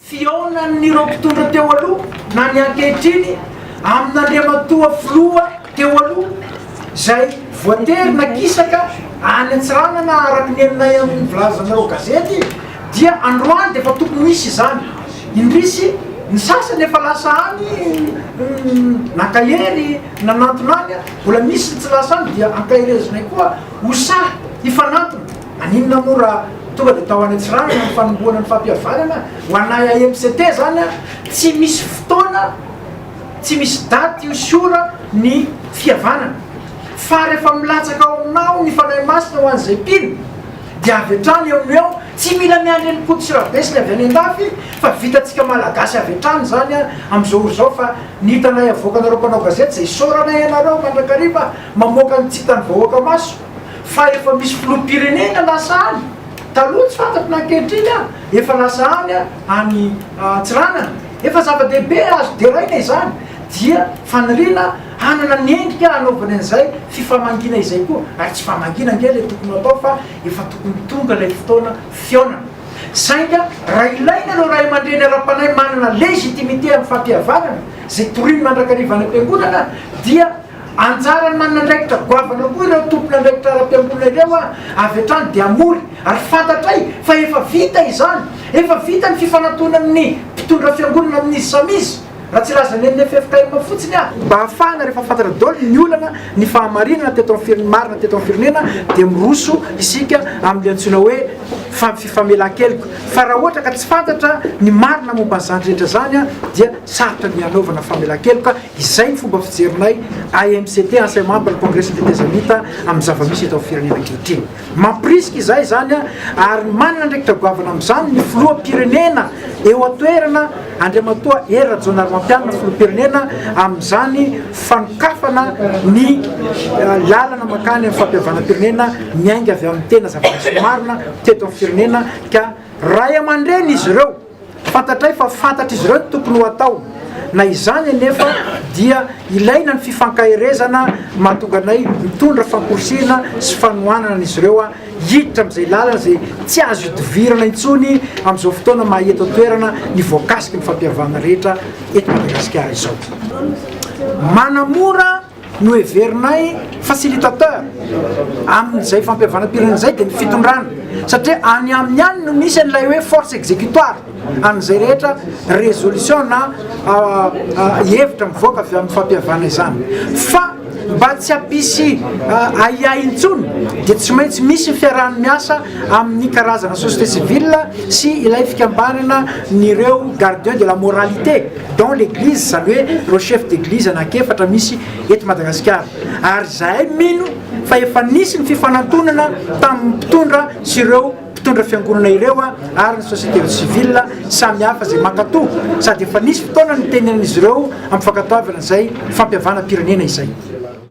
fihaonan'ireo mpitondra teo aloha na ny ankehitriny amin'Andriamatoa Filoha teo aloha izay voatery nakisaka any Antsiranana araka ny henonay amin'ny vilazan'ireo gazety dia androany dia efa tokony hisy izany indrisy ny sasany efa lasa any naka hery nanantona any mbola misy ny tsy lasa any dia ankaherezinay koa ho sahy hifanantona Maninona moa raha tonga dia tao any Antsiranana ny fanombohana ny fampihavanana ho anay AMCT izany an? Tsy misy fotoana, tsy misy daty io siora ny fihavanana. Fa rehefa milatsaka ao aminao ny Fanahy Masina ho an'izay mpino dia avy hatrany eo no eo, tsy mila miandry an'i Koto sy Rabesiny avy any andafy fa vitantsika Malagasy avy hatrany izany an amin'izao ora izao fa ny hitanay avoakanareo mpanao gazety izay isaorana ianareo mandrakariva mamoaka ny tsy hitan'ny vahoaka maso fa efa misy filoham-pirenena lasa any taloha tsy fantatro na ankehitriny an, efa lasa any any Antsiranana, efa zava-dehibe azo deraina izany dia faniriana hanana ny endrika hanaovany an'izay fifamangiana izay koa ary tsy famangiana ange ilay tokony ho atao fa efa tokony tonga ilay fotoana fihaonana sainga raha ilaina ireo ray aman-dreny ara-panahy manana légitimité amin'ny fampihavanana izay toriny mandrakariva any am-piangonana dia Anjaran'ny manandraikitra goavana koa ireo tompon'andraikitra ara-piangonana ireo avy hatrany dia hamory ary fantatray fa efa vita izany. Efa vita ny fifanatonan'ny mpitondra fiangonana amin'izy samy izy, raha tsy lazana eny FFKM fotsiny aho. Mba hahafahana rehefa fantatra daholo ny olana, ny fahamarinana teto amin'ny firenena, marina teto amin'ny firenena dia miroso isika amin'ilay antsoina hoe fifamelan-keloka. Fa raha ohatra ka tsy fantatra ny marina momba an'izany rehetra izany dia sarotra ny hanaovana famelan-keloka. Izay ny fomba fijerinay AMCT, Enseignement pour la Progression des Tezamita, amin'ny zava-misy eto amin'ny firenena ankehitriny. Mampirisika izahay izany ary manana andraikitra goavana amin'izany ny Filoham-pirenena eo an-toerana Andriamatoa Hery Rajaonarimampianina, Filoham-pirenena, amin'izany fanokafana ny lalana mankany amin'ny fampihavanam-pirenena miainga avy amin'ny tena zava-misy marina teto amin'ny firenena ka Ray aman-dreny izy ireo. Fantatray fa fantatr'izy ireo ny tokony ho atao. Na izany anefa dia ilaina ny fifankaherezana mahatonga anay mitondra famporisihina sy fanohanana an'izy ireo hiditra amin'izay lalana izay tsy azo idivirana intsony amin'izao fotoana maha eto an-toerana ny voakasiky ny fampihavana rehetra eto Madagasikara izao. Manamora Noheverinay facilitateur amin'izay fampihavanam-pirenena izay dia ny fitondrana, satria any aminy any no misy an'ilay hoe force executoire an'izay rehetra résolution na hevitra mivoaka avy amin'ny fampihavana izany. Fa mba tsy hampisy ahiahy intsony dia tsy maintsy misy ny fiaraha-miasa amin'ny karazana société civile sy ilay fikambanana n'ireo gardiens de la moralité. dans l'église zany hoe ireo chef d'église anak'efatra misy eto Madagasikara ary zahay mino fa efa nisy ny fifanantonana tamin'ny mpitondra sy ireo mpitondra fiangonana ireo ary ny société civile samy hafa izay mankatò sady efa nisy fotoana nitenenan'izy ireo ampifankatoavana izay fampihavanam-pirenena izay.